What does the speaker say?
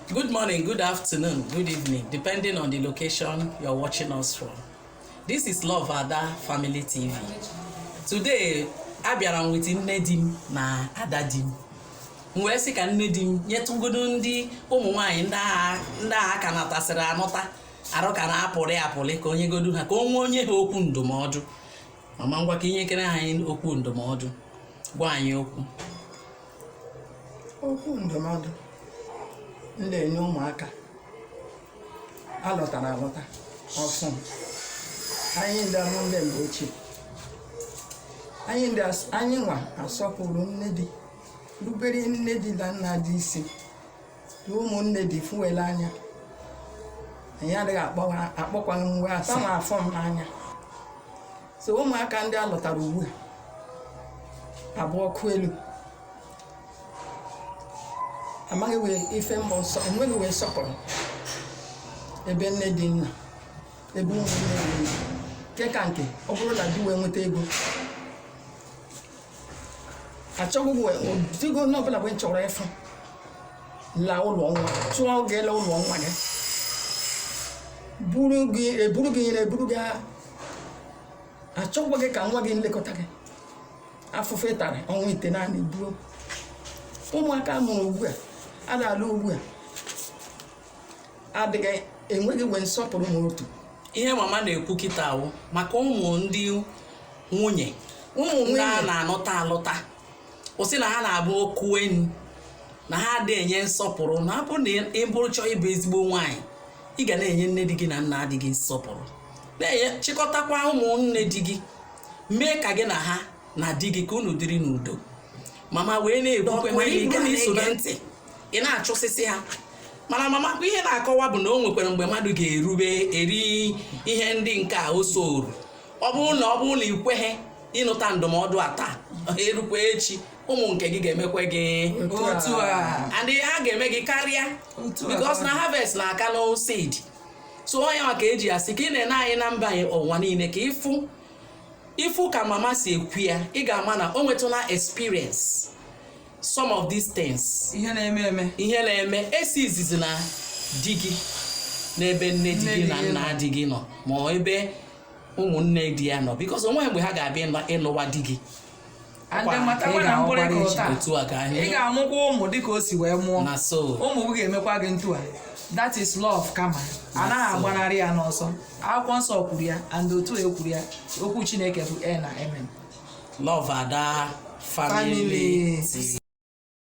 Good morning, good afternoon, good evening, depending on the location you're watching us from. This is Love Ada Family TV. Today, abịara m with nne di m na ada di m. M wee sị ka nne di m nyetụgodo ndị ụmụ nwaanyị ndị a ka nụtasịrị anụta arụ ka na-apụrị apụrị ka o nyegodu ha ka o nwee o nye ha okwu ndụmọdụ mama ngwa ka i nyekere anyị okwu ndụmọdụ gwa anyị okwu okwu ndụmọdụ m na-enye ụmụaka a lụtara alụta ọfụụ anyị ndị a mụ ndị mgbe ochie anyị ndị as- anyị nwa asọpụrụ nne di rubere nne di na nna di isi na ụmụnne di fụ we l'anya anyị adịghị akpọwa akpọkwaghị we asị ma afụ m n'anya so ụmụaka ndị a lụtara ugbu a abụ ọkụ elu amaghị wee ife bụ nsọ enweghị wee nsọpụrụ ebe nne di nọ ebe ụmụnne di nọ nke ka nke ọ bụrụ na di wee nweta ego achọghị wee digo onye ọbụla wee chọrọ ịfụ la ụlọ nwa chụọ gị la ụlọ nwa gị buru gị eburu gị nyere eburu gị achọkwaghị ka nwa gị lekọta gị afụfụ ị tara ọnwa itenaanị buo ụmụaka mụrụ ugbu a a na-alụ ugbu a adịghị enweghị wee nsọpụrụ ma otu ihe mama na-ekwu kịta wụ maka ụmụ ndị nwunye ụmụ ndị a nwunye na-anụta alụta o sị na ha na-abụ ọkụ enu na ha adị enye nsọpụrụ na ọ bụ na ị bụrụ chọọ ịbụ ezigbo nwaanyị ị ga na-enye nne di gị na nna di gị nsọpụrụ na-enye chịkọtakwa ụmụnne di gị mee ka gị na ha na di gị ka unu dịrị n'udo mama wee na-ekwukwa mana ị bụrụ na i so na ndị na-achụsịsị ha mana mama kwa ihe na-akọwa bụ na o nwekwara mgbe mmadụ ga-erube eri ihe ndị nke a o soru ọ bụrụ na ọ bụrụ na ị kweghị ịnụta ndụmọdụ a taa erukwa echi ụmụ nke gị ga-emekwa gị Otu a. and ha ga-eme gị karịa Otu a. because na harvest na-akanụ seed so ọ ya maka e ji asị ka ị na-ene anyị na mba ụwa niile ka ị fụ ị fụ ka mama si ekwu ya ị ga-ama na o nwetụla experience some of these things ihe na-eme eme ihe na-eme esi izizi na di gị n'ebe nne di gị na nna di gị nọ ma ebe ụmụnne di ya nọ because onweghị mgbe ha ga-abịa ịlụwa di gị and matakwa na otu a ka ị ga-amụkwa ụmụ dịka o si wee mụọ na so ụmụ gị ga-emekwa gị otu a that is law of karma a naghị agbanarị ya n'ọsọ akwụkwọ nsọ kwuru ya and otu e kwuru ya okwu chineke bụ ee na amen Love Ada Family tii.